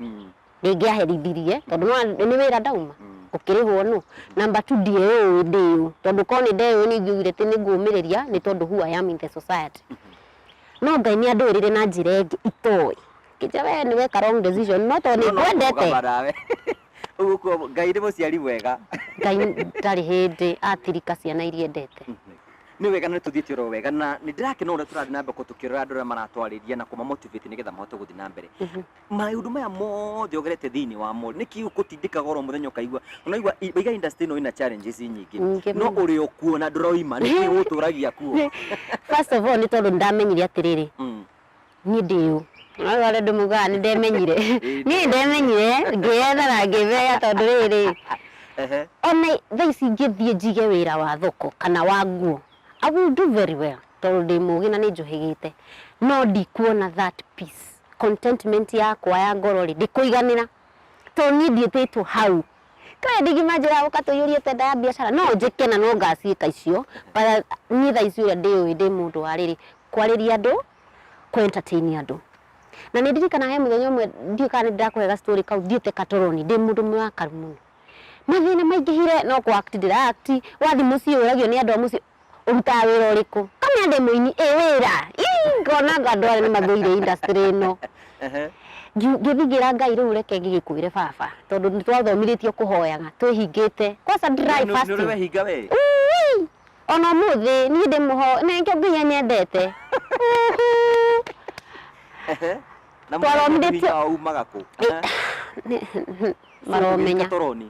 Ndĩngĩaherithirie tondũ nĩwona nĩ wĩra ndauma ngũkĩrĩhwo nũ? Number two ndiĩũĩ ndĩũ tondũ korwo nĩ ndeũĩ nĩ ingĩugire atĩ nĩ ngũmĩrĩria nĩ tondũ who I am in the society. No Ngai nĩ andũĩrĩire na njĩra ĩngĩ itoĩ. Ngĩnjĩra wee nĩ weka wrong decision no tondũ nĩ ngwendete Ũguo kuo Ngai nĩ mũciari mwega. Ngai ndarĩ hĩndĩ atirika ciana iria endete. Nĩ wega na nĩ tũthiĩte oro wega na nĩ ndĩrakena ũrĩa tũrathiĩ na mbere kũ- tũkĩrora andũ arĩa maratwarĩria na kũma motivate nĩgetha mahote gũthiĩ na mbere. maũndũ maya mothe ogerete thĩinĩ wa mall nĩ kĩĩ ũkũtindĩkaga oro mũthenya ũkaigua ũnaigua i- iga industry ĩno ĩna challenges nyingĩ Nyingĩ no mũno. ũrĩ o kuo na ndũroima nĩ kĩĩ ũgũtũragia kuo first of all nĩ tondũ ndamenyire atĩrĩrĩ Mm. niĩ ndĩ ũ Nĩ wale andũ maugaga nĩ ndemenyire niĩ ndemenyire ngĩyethera ngĩmenya tondũ rĩrĩ Ehe. ona thaa ici ingĩthiĩ njige wĩra wa thoko kana wa nguo I will do very well tondũ ndĩ mũgĩ na nĩ njũhĩgĩte no ndikuona that peace contentment yakwa ya ngoro rĩ, ndĩkũiganĩra. To niĩ ndiĩtĩtwo hau. Kaĩ ndingĩmanjĩra gũka tũiyũrie tenda ya biacara? No njĩke na no ngaciĩka icio, but niĩ thaa ici ũrĩa ndĩũĩ ndĩ mũndũ wa rĩrĩ, kwarĩria andũ, kũ entertain andũ. Na nĩ ndirikanaga he mũthenya ũmwe ndiũĩ kana nĩ ndĩrakũhe ga story kau thiĩte Katoroni ndĩ mũndũ mũrakaru mũno. Mathĩna maingĩhire no kũ act ndĩra act, wathiĩ mũciĩ ũragio nĩ andũ a mũciĩ ũrutaga wĩra ũrĩkũ kamenya ndĩ mũini ĩ wĩra Ii, ngona ngo andũ aya nĩ mathũire industry ĩno Ehe. Ngi- ngĩthiĩ ngĩra ngai rĩu reke ngĩgĩkwĩre baba tondũ nĩ twathomithĩtio kũhoyaga twĩhingĩte kwaca dry Nĩ- nĩ fasting ũrĩ wehinga we Ui! ona mũthĩ niĩ ndĩ mũho na nĩkĩo ngai anyendete Uhu. Ehe. na Twathomithĩtio- mũhinga wao umaga kũ Ĩ- Ehe. Nĩ- maromenya Tũroni.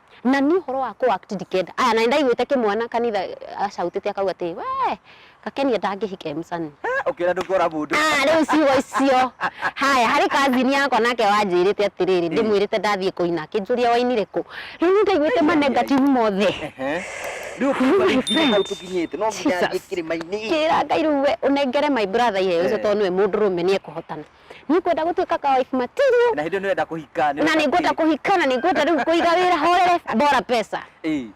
na nĩ ũhoro wa kũ act ndikenda aya na ndaiguĩte kĩmwana kanitha acautĩte akauga atĩ we gakenia ndangĩhika emsani Eh, ũkĩra ndũkora mũndũ Ah, rĩu ciugo icio haya harĩ kazini yakwa nake wanjĩrĩte atĩrĩrĩ ndĩmwĩrĩte ndathiĩ kũina akĩnjũria wainire kũ rĩu nĩ ndaiguĩte manegativu mothe Ehe. rĩu ũkĩigua rĩu nginya hau tũkinyĩte no nginya Jesus. thiĩ kĩrĩma-inĩ kĩra ngai rĩu we ũnengere my brother iheo icio Ehe. tondũ nĩwe mũndũrũme nĩ ekũhotana nĩ ngwenda gũtuĩka ka wife material na hĩndĩ nĩ wenda kũhika na nĩ ngwenda kũhika na nĩ ngwenda rĩu kũiga wĩra horere bora pesa Ĩĩ.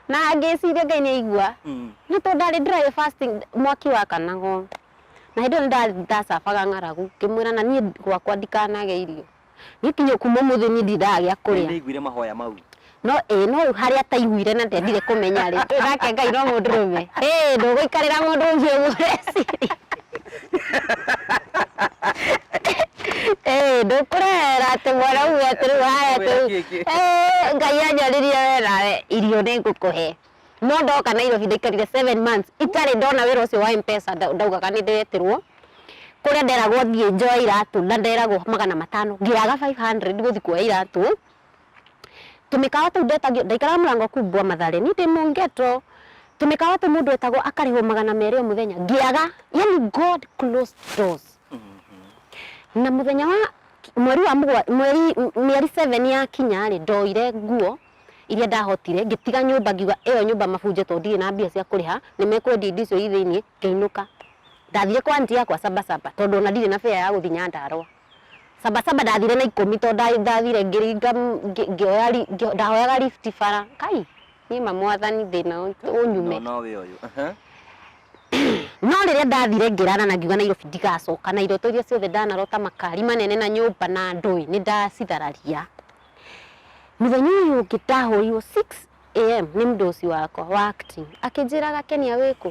na ngĩciria ngai nĩ aigua Mm. no tondũ ndarĩ dry fasting mwaki wakanago na hĩndĩ ĩyo nĩ ndacabaga ng'aragu ngĩmwĩra na niĩ gwakwa ndikanage irio niĩ kinya kuma mũthĩ niĩ ndiragĩa Ngai kũrĩa nĩaiguire mahoya mau No ĩĩ no rĩu harĩa ataiguire na ndendire kũmenya rĩ, ĩ nake Ngai no mũndũrũme? Ĩ ndũgũikarĩra mũndũ ũngĩ ũguo ũreciria. Ĩ ndũkũrehera atĩ mwana uge atĩ rĩu haya atĩ Ngũkwĩra kĩngĩ. "Ĩ, Ngai anjaririe we nawe irio nĩ ngũkũhe. No ndoka Nairobi ndaikarire seven months itarĩ ndona wĩra ũcio wa M-Pesa nda- ndaugaga nĩ ndĩretirwo kũrĩa nderagwo thiĩ njoe iratũ na nderagwo magana matano ngĩaga 500 gũthiĩ kuoya iratũ Tũmĩkawa tũu ndetagio, ndaikaraga mũrango kũu Mbwa Mathare, niĩ ndĩ mũ ghetto. Tũmĩkawa tũu mũndũ etagwo akarĩhwo magana merĩ o mũthenya, ngĩaga. Yani God closed doors. Na mũthenya wa mweri wa mũgwa, mweri, m- mĩeri seven yakinya-rĩ, ndoire nguo iria ndahotire, ngĩtiga nyũmba ngiuga ĩyo nyũmba mabunje tondũ ndirĩ na mbia cia kũrĩha, nĩmekwendia indo icio i thĩiniĩ, ngĩinũka. Ndathire kwa aunty yakwa Saba Saba tondũ ona ndirĩ na fare ya gũthiĩ Nyandarũa. Sabasaba ndathire na ikũmi tondũ nda- ndathire ngĩringa m- ngĩ- ngĩoya ri- ngĩ- ndahoyaga lift bara kai niĩ ma mwathani thĩna ũ- ũnyume No wĩ ũyũ. Aha. no rĩrĩa ndathire ngĩrana na ngiuga nairobi ndigacoka na iroto iria ciothe ndanarota makari manene na nyũmba na ndũĩ nĩ ndacithararia mũthenya ũyũ ũngĩ ndahũrirwo 6 am nĩ mdosi wakwa wa acting akĩnjĩraga kenia wĩkũ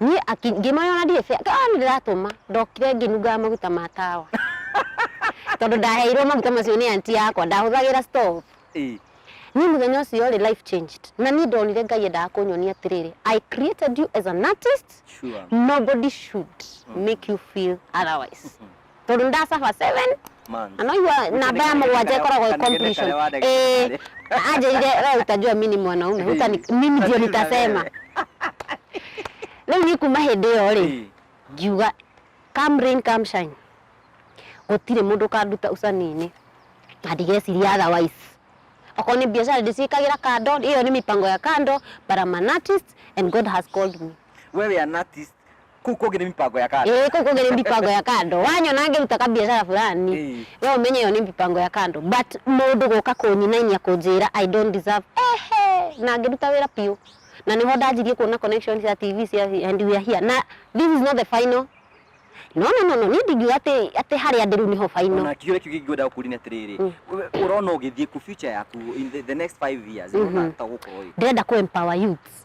niĩ aki- ngĩmoya ona ndirĩ bĩa ah nĩ ndĩratũma ndokire ngĩnungaga maguta ma tawa tondũ ndaheirwo maguta macio nĩ anti yakwa ndahũthagĩra stove Ĩ, niĩ mũthenya ũcio rĩ life changed na niĩ ndonire ngai endaga kũnyonia atĩrĩrĩ i created you as an artist sure. nobody should make you feel otherwise tondå nä ndacaba seven Man. na no igua namba ya må gwanja ä koragwo ä completion Ĩĩ, anjĩire we utajua mi ni mwanaume Uta ni- mimi ndio nitasema rĩu niĩ kuma hĩndĩ ĩyo rĩ Eh, ngiuga come rain come shine gũtirĩ mũndũ ũkanduta ucani-inĩ na ndigeciria otherwise okorwo nĩ biacara ndĩciĩkagĩra kando ĩyo nĩ mĩpango ya kando but I'm an artist and God has called me we wĩ an artist kuu kũngĩ nĩ mipango ya kando ĩĩ kũu kũngĩ nĩ mbipango ya kando wanyona ngĩruta kabiacara fulani Ĩĩ. we ũmenye ĩyo nĩ mbipango ya kando but mũndũ gũka kũnyinainia kũnjĩra i don't deserve ehe na ngĩruta wĩra biũ na nĩho ndanjirie kuona connection cia tv cia and we are here na this is not the final no no no no niĩ ndingiuga atĩ atĩ harĩa ndĩ rĩu nĩho final ona kiũria kĩu kĩngĩ ngwenda gũkũria nĩ atĩrĩrĩ ũrona ũgĩthiĩ ku future yaku in the, the next five years ũrona ta gũkorwo ĩ ndĩrenda kũ empower youths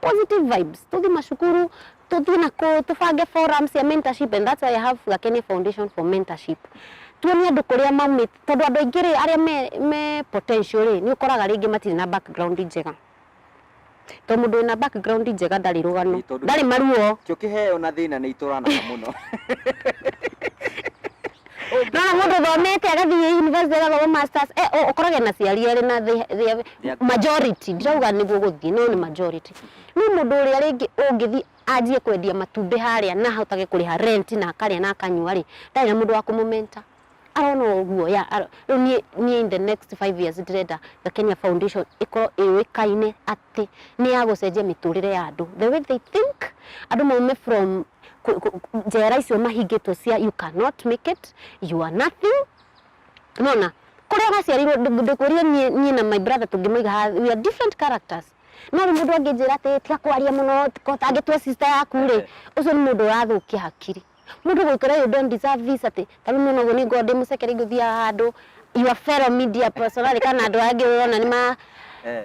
positive vibes tuthi macukuru tuthi na kũ tubange forums ya mentorship and that's why I have Gakene Foundation for mentorship tuonie andũ kũrĩa maumĩte tondũ andũ aingĩ rĩ arĩa me, me potential rĩ nĩ ũkoraga rĩngĩ matirĩ na background njega to mũndũ wĩna background njega ndarĩ rũgano Ĩ, tondũ- ndarĩ maruo Kĩo kĩheo na thĩna nĩ itũranaga mũno. no na mũndũ thomete agathiĩ university agathoma masters eh, o- ũkorage na ciari erĩ na the- the- They're- majority ndirauga nĩguo gũthiĩ no nĩ majority no mũndũ ũrĩa rĩngĩ ũngĩthiĩ anjie kwendia matumbĩ harĩa na ahotage kũrĩha rent na akarĩa na akanyua rĩ ndarĩ na mũndũ wa kũmũmenta arona ũguo ya aro- rĩu niĩ niĩ in the next five years ndĩrenda the kenya foundation ĩkorwo ĩũĩkaine at atĩ nĩ ya gũcenjia mĩtũrĩre ya andũ the way they think andũ maume from ku- ku- ku- njera icio mahingĩtwo cia you cannot make it you are nothing nona kũrĩa waciarirwo ndũ- ndũkũrie niĩ niĩ na my brother tũngĩmũiga ha we are different characters no rĩu mũndũ angĩnjĩra atĩ tiga kwaria mũno ko ũtangĩtua sister yaku rĩ ũcio nĩ mũndũ ũrathũkia hakiri mũndũ gwĩkora you don't deserve this atĩ ta rĩu nona ũguo nĩ ngorwo ndĩmũcekere ingũthiaga handũ your fellow media personality kana andũ angĩ ũrona nĩ ma Eh.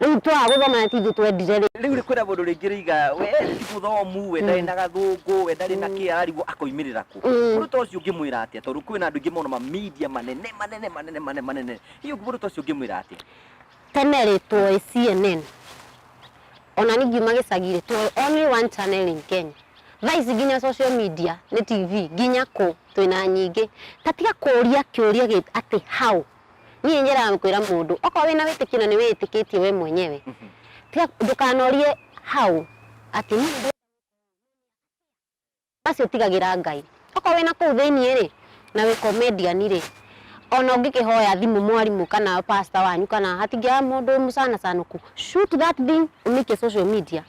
Riu twaga guthoma na tithu twendire ri. Riu ri kwina mundu ringi riga we ti muthomu, we ndari na gathungu, we ndari na ki ararigwo akoimirira ku. Mundu ta ucio ungimwira atia tondu kwina andu aingi mono ma media manene manene manene manene manene. Hihi ungi mundu ta ucio ungimwira atia? Tene ri tuoi CNN. Ona ni ngiuma gicagi ri tuoi only one channel in Kenya. Thaa ici nginya social media ni TV nginya ku twina nyingi. Ta tiga kuria kiuria gi ati how. niĩ njĩraga kwĩra mũndũ okorwo wĩna wĩtĩkio na nĩ wĩtĩkĩtie we mwenyewe tiga ndũkanorie hau atĩ niĩ ndĩ- acio tigagĩra ngai okorwo wĩna kũu thĩinĩ rĩ na wĩ comedian rĩ ona ũngĩkĩhoya thimũ mwarimũ kana pastor wanyu kana hatingĩaga mũndũ mũcanacanũku shoot that thing ũmĩikie social media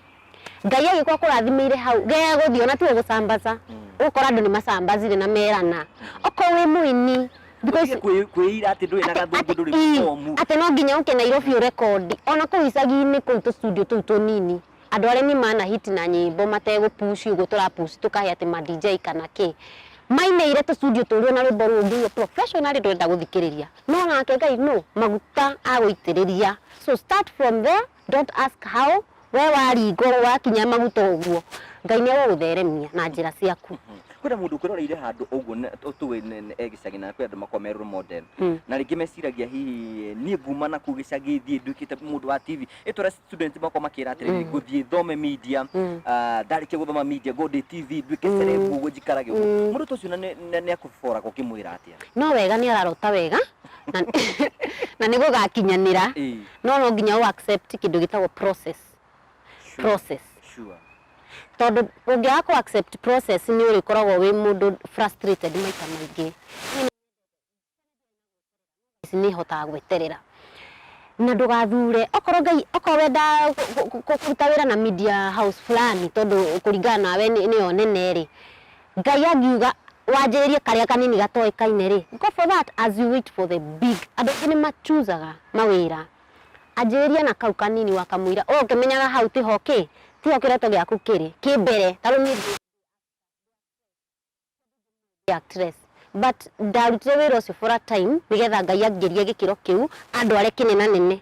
ngai agĩkorwo kũrathimĩire hau gege gũthiĩ ona tiwe gũcambaca ũgũkora andũ nĩ macambacire na merana okorwo wĩ mũini thikũ ici Ndũtige kwĩ- kwĩira atĩ ndũrĩ na gathũngũ ndũrĩ Ati- mũbomu atĩ no nginya ũke nairobi ũrekondi ona kũu icagi-inĩ kũu tũstudio tũu tũnini andũ arĩa nĩ mana hiti na nyĩmbo mategũpuci ũguo tũrapuci tũkahe atĩ ma dj kana kĩ mainĩire tũstudio tũrĩ ona rwĩmbo rũu ngĩigue professionally ndũrenda gũthikĩrĩria no nake ngai no maguta agũitĩrĩria so start from there Don't ask how, we waringwo wakinya maguta ũguo, Ngai nĩ agũgũtheremia na njĩra ciaku. kwĩna mũndũ ũkĩroreire handũ ũguo na- tũ- tũĩ nĩ- nĩ- e gĩcagi na kwĩ andũ makoragwo me role model Mm. na rĩngĩ meciragia hihi niĩ nguma na kũu gĩcagi thiĩ nduĩkĩte mũndũ wa tv ĩtũra student makoragwo makĩra atĩrĩrĩ Mm. ngũthiĩ thome media Mm. ah, ndarĩkia gũthoma media ngo ndĩ tv nduĩke Mm. cerebu ũguo njikarage ũguo Mm. mũndũ ta ũcio na nĩ- na nĩ akũboraga ũkĩmwĩra atĩa No wega nĩ ararota wega na, na nĩ gũgakinyanĩra. Ĩĩ. no no nginya ũ accept kĩndũ gĩtagwo process Sure, process sure. tondũ ũngĩaga kũ accept process nĩ ũrĩkoragwo wĩ mũndũ frustrated maita maingĩ Ici nĩ hotaga gweterera na ndũgathure okorwo ngai okorwo wenda kũ- kũ- kũ- kũruta wĩra na media house fulani tondũ kũringana nawe nĩ- nĩyo nene rĩ Ngai angiuga wanjĩrĩrie karĩa kanini gatoĩkaine rĩ, go for that as you wait for the big. Andũ aingĩ nĩ machuzaga mawĩra, anjĩrĩria na kau kanini wakamũira, o ũkĩmenyaga hau tiho kĩ, tiho kĩroto gĩaku kĩrĩ, kĩ mbere, ta rĩu niĩ ndĩ actress but ndarutire wĩra ũcio for a time nĩgetha Ngai angĩrie gĩkĩro kĩu andware kĩnenanene.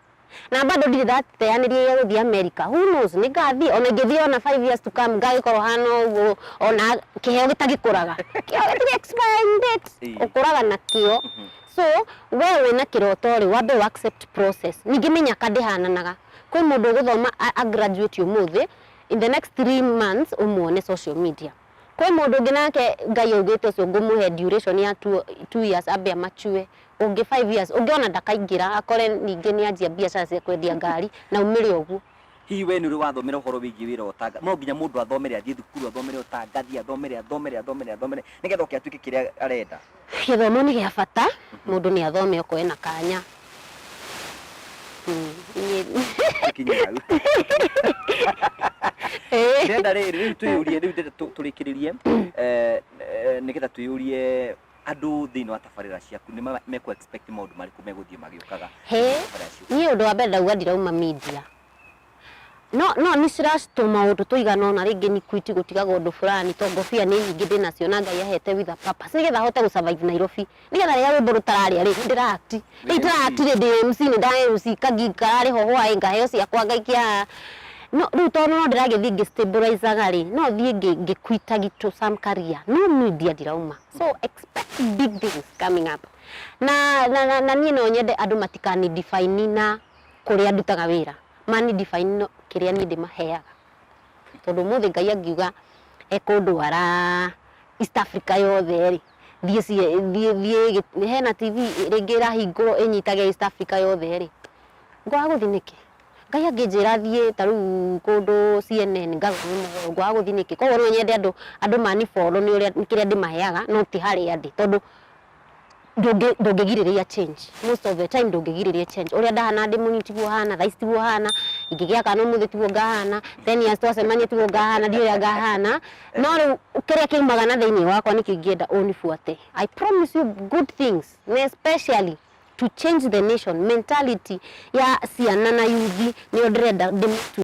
Na bado ndirĩ ndateyanĩria gĩa gũthiĩ America. Who knows? Nĩ ngathiĩ, ona ingĩthiĩ ona five years to come, ngagĩkorwo hana ũguo, ona kĩheo gĩtagĩkũraga. Kĩheo gĩtirĩ expiring date. Ĩĩ. Ũkũraga nakĩo. So, we wĩna kĩroto-rĩ, wambe ũ accept process. Ningĩ mĩnyaka ndĩhananaga. Kwĩ mũndũ ũgũthoma a a graduate ũmũthĩ, in the next three months ũmwone social media. Kwĩ mũndũ ũngĩ nake Ngai augĩte ũcio ngũmũhe duration ya two, two years ambe amature, ũngĩ five years, ũngĩ ona ndakaingĩra akore ningĩ nĩanjia mbiacara cia kwendia ngari na aumĩre ũguo. Hihi wee nĩũrĩ wathomera ũhoro wĩgiĩ wĩra wa ũtanga? No nginya mũndũ athomere, athiĩ thukuru, athomere ũtangathi, athomere, athomere, athomere, athomere, nĩgetha oke atuĩke kĩrĩa arenda. Gĩthomo nĩ gĩa bata, mũndũ nĩ athome okorwo ena kanya. Mm, niĩ- Tũkinye hau. Ĩĩ. ndĩrenda rĩrĩ rĩu twĩyũrie rĩu ndĩrenda tũ- tũrĩkĩrĩrie eh, eh, nĩgetha twĩyũrie andũ thĩinĩ wa tabarĩra ciaku nĩ ma- mekũ expect maũndũ marĩkũ megũthiĩ magĩũkaga He. thĩinĩ wa tabarĩra ciaku niĩ ũndũ wa mbere ndauga ndirauma media No no nĩ ciracitwo maũndũ tũigana ũna rĩngĩ nĩ kwiti gũtigaga ũndũ fulani to ngobia nĩ nyingĩ ndĩnacio na Ngai ahete with a purpose nĩgetha hote gũ survive Nairobi nĩgetha rĩrĩa rwĩmbo rũtararĩa rĩ ndĩra act rĩu ndĩra act rĩ ndĩ MC nĩ ndara MC kagi kararĩ ho hwaĩ ngaheo ciakwa ngaikia haha no rĩu tondũ no ndĩragĩthiĩ ngĩ stabilizaga rĩ no thiĩ ngĩ ngĩ quita gitũ some career no media ndirauma so expect big things coming up na na na niĩ no nyende andũ matikani define na kũrĩa ndutaga wĩra mani ndibei ĩno kĩrĩa niĩ ndĩmaheaga. Tondũ ũmũthĩ Ngai angiuga ekũndwara East Africa yothe rĩ, thiĩ thiĩ thiĩ hena TV rĩngĩ ĩrahingũrwo ĩnyitage East Africa yothe rĩ, ngwaga gũthiĩ nĩkĩ? Ngai angĩnjĩra thiĩ ta rĩu kũndũ CNN ngarũgame mũgogo ngwaga gũthiĩ nĩkĩ? Koguo no nyende andũ andũ mani follow nĩ ũrĩa nĩ kĩrĩa ndĩmaheaga no ti harĩa ndĩ. Tondũ ndũngĩ- ndũngĩgirĩrĩria change most of the time ndũngĩgirĩrĩria change ũrĩa ndahana ndĩ mũnini tiguo hana thaa ici tiguo hana ingĩgĩa kana ũmũthĩ tiguo ngahana ten years twacemania tiguo ngahana ndiũĩ ũrĩa ngahana no rĩu kĩrĩa kĩumaga na thĩinĩ wakwa nĩkĩo ingĩenda ũnibuate I promise you good things na especially to change the nation mentality ya ciana na yuthi nĩyo ndĩrenda ndĩmĩtue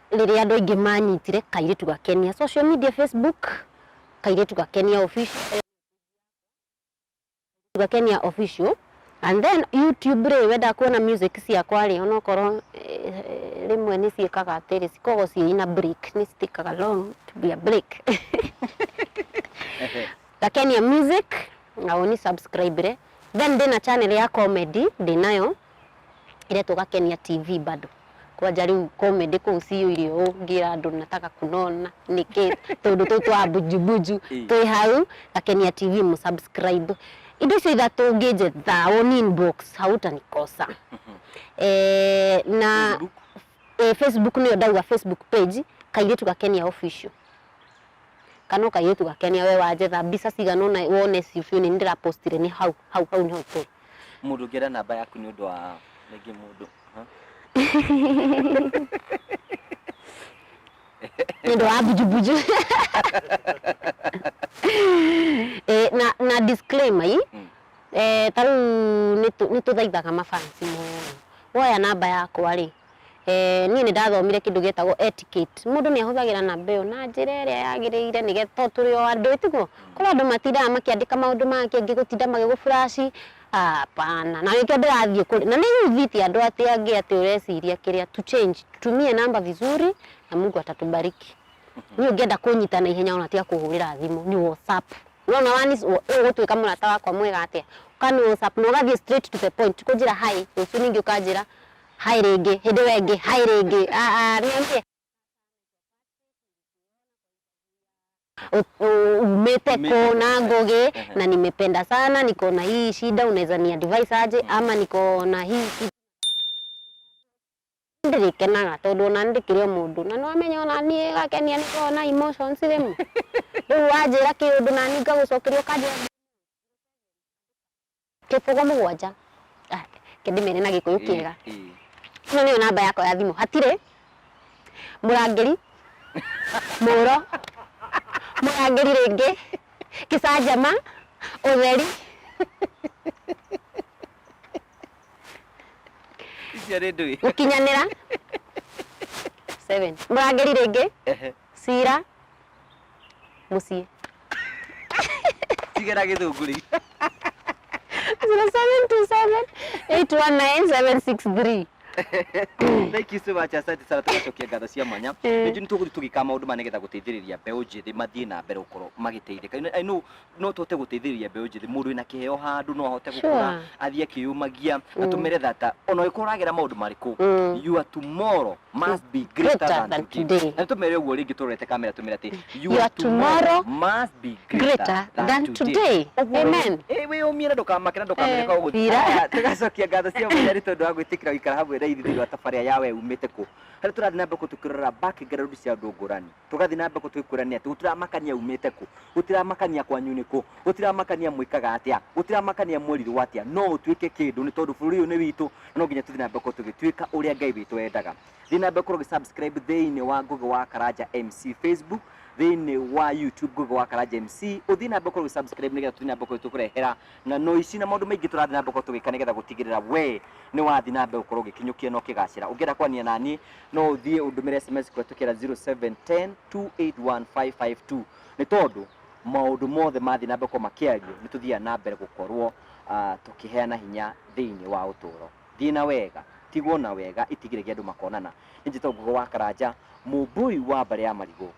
rĩrĩa andũ aingĩ manyitire kairĩtu gakenia social media facebook kairĩtu gakenia official gakenia official and then youtube rĩ wenda kuona music ciakwa rĩ onokorwo eh, rĩmwe nĩ ciĩkaga atĩrĩ cikoragwo ciĩna break nĩ citikaga long to be a break gakenia music na ũni subscribe re then ndĩna channel ya comedy ndĩnayo ĩretwo Gakenia TV bado kwanja rĩu comedy kũu ciyũire ũũ ngĩra andũ nataka kunona nĩkĩ tũndũ tũu twa bunjubunju Ĩ. twĩ hau Gakenia TV mũsubscribe indo icio ithatũ ũngĩnjetha woni inbox hautanikosa eh, na Facebook. eh, Facebook nĩyo ndauga Facebook page kairĩtu Gakenia official Kana ũkairĩtu gakenia we wanjetha mbica cigana ũna wone icio biũ nĩ ndĩra postire nĩ hau hau hau nĩ hau tũrĩ. Mũndũ ũngĩenda namba yaku nĩ ũndũ wa rĩngĩ mũndũ. Nĩ ũndũ wa mbujumbuju. Eh, na na disclaimer i mm. eh, ta rĩu nĩ tũthaithaga mafansi mũno woya namba yakwa rĩ Eh, niĩ nĩ ndathomire kĩndũ gĩtagwo etiquette mũndũ nĩ ahũthagĩra namba ĩyo na njĩra ĩrĩa yagĩrĩire nĩgetha to tũrĩ o andũ ĩtiguo kũrĩ andũ matindaga makĩandĩka maũndũ mangĩ angĩ gũtinda magĩgũ flash hapana na nĩkĩo ndĩrathiĩ kũrĩ na nĩ yuvĩte andũ atĩ angĩ atĩ ũreciria kĩrĩa to change tumie namba vizuri na Mungu atatubariki niĩ ũngĩenda kũnyita na ihenya ona tia kũhũrĩra thimũ nĩ WhatsApp nona wani ũgũtuĩka mũrata wakwa mwega atĩa ũkani WhatsApp na ũgathiĩ straight to the point kũnjĩra hi rũciũ ningĩ ũkanjĩra Hi rĩngĩ, hĩndĩ ĩyo ĩngĩ, hi rĩngĩ, aah, nĩ niĩ. Umĩte kũ na Ngũgĩ na nimependa sana, niko na hii shida, unaweza ni advise aje ama niko na hii shida. Ndirikenaga tondũ ona nĩ ndĩkĩrĩ o mũndũ na no amenye ona niĩ gakenia nĩ koragwo na emotions rĩmwe. Rĩu wanjĩra kĩũndũ na niĩ ngagũcokeria ũkanjĩra Kĩbũgũ mũgwanja. Ah, Ke ndĩmere na gĩkũyũ kĩega. Ĩ, ĩ. Ĩno nĩyo namba yakwa ya thimũ. Hatirĩ mũrangĩri, mũũro, mũrangĩri rĩngĩ, kĩcanjama, ũtheri. Icio nĩ ndũĩ. gũkinyanĩra Seven. mũrangĩri rĩngĩ Ehe. cira mũciĩ tigera gĩthunguri zero seven two seven eight one nine seven six three thank you so much asante sana tugacokia ngatho cia mwanya Eh. nĩnjũ nĩtũgũthiĩ tũgĩka maũndũ ma nĩgetha gũteithĩrĩria mbeũ njĩthĩ mathiĩ na mbere gũkorwo magĩteithĩka You know, I know no tũhote gũteithĩrĩria mbeũ njĩthĩ mũndũ wĩna kĩheo handũ no ahote Sure. gũkũra athiĩ akĩyũmagia Mm. atũmĩre thata ona ũrĩkũ ũragera maũndũ marĩkũ Mm. your tomorrow must be greater Greater than than today today. na tũmere ũguo rĩngĩ tũrorete kamera tũmere atĩ Your tomorrow must be greater than today. Ũguo Amen. rĩ, eh, wĩyũmie na ndũkamake na ndũkamere Eh, kwa ũguo thira. Aya, tũgacokia ngatho cia mũnyari tondũ wa gwĩtĩkĩra gũikara hamwe na ithuĩ thĩinĩ wa tabarĩa ya we umĩte kũ harĩa tũrathiĩ na mbere kũ tũkĩrora background cia andũ ngũrani tũgathiĩ na mbere tũgĩkwĩrania atĩ gũtiramakania umĩte kũ gũtiramakania kwanyu nĩ kũ gũtiramakania mwĩkaga atĩa gũtiramakania mwerirwo atĩa no ũtuĩke kĩndũ nĩ tondũ bũrũri ũyũ nĩ witũ na no nginya tũthiĩ na mbere gũkorwo tũgĩtuĩka ũrĩa ngai witũ endaga thiĩ na mbere gũkorwo ũgĩsubscribe thĩinĩ wa ngũgĩ wa karanja mc facebook thĩinĩ wa youtube ngũgĩ wa karanja mc ũthiĩ na mbere gũkorwo ũgĩsubscribe nĩgetha tũthiĩ na mbere gũkorwo tũkũrehera Na no ici na maũndũ maingĩ tũrathiĩ na mbere gũkorwo tũgĩka nĩgetha gũtigĩrĩra we nĩ wathiĩ na mbere gũkorwo ũgĩkinyũkia na ũkĩgacĩra. Ũngĩenda kwaranĩria na niĩ no ũthiĩ ũndũmĩre sms kũhetũkĩra 0710281552 nĩ tondũ maũndũ mothe mathiĩ na mbere gũkorwo makĩario nĩ tũthiaga na mbere gũkorwo ah, tũkĩheana hinya thĩinĩ wa ũtũũro. Thiĩ na wega, tigwo na wega, itigĩre gĩa andũ makonana. Nĩ njĩtagwo Ngugo wa Karanja, mũmbũi wa mbarĩ ya marigũ.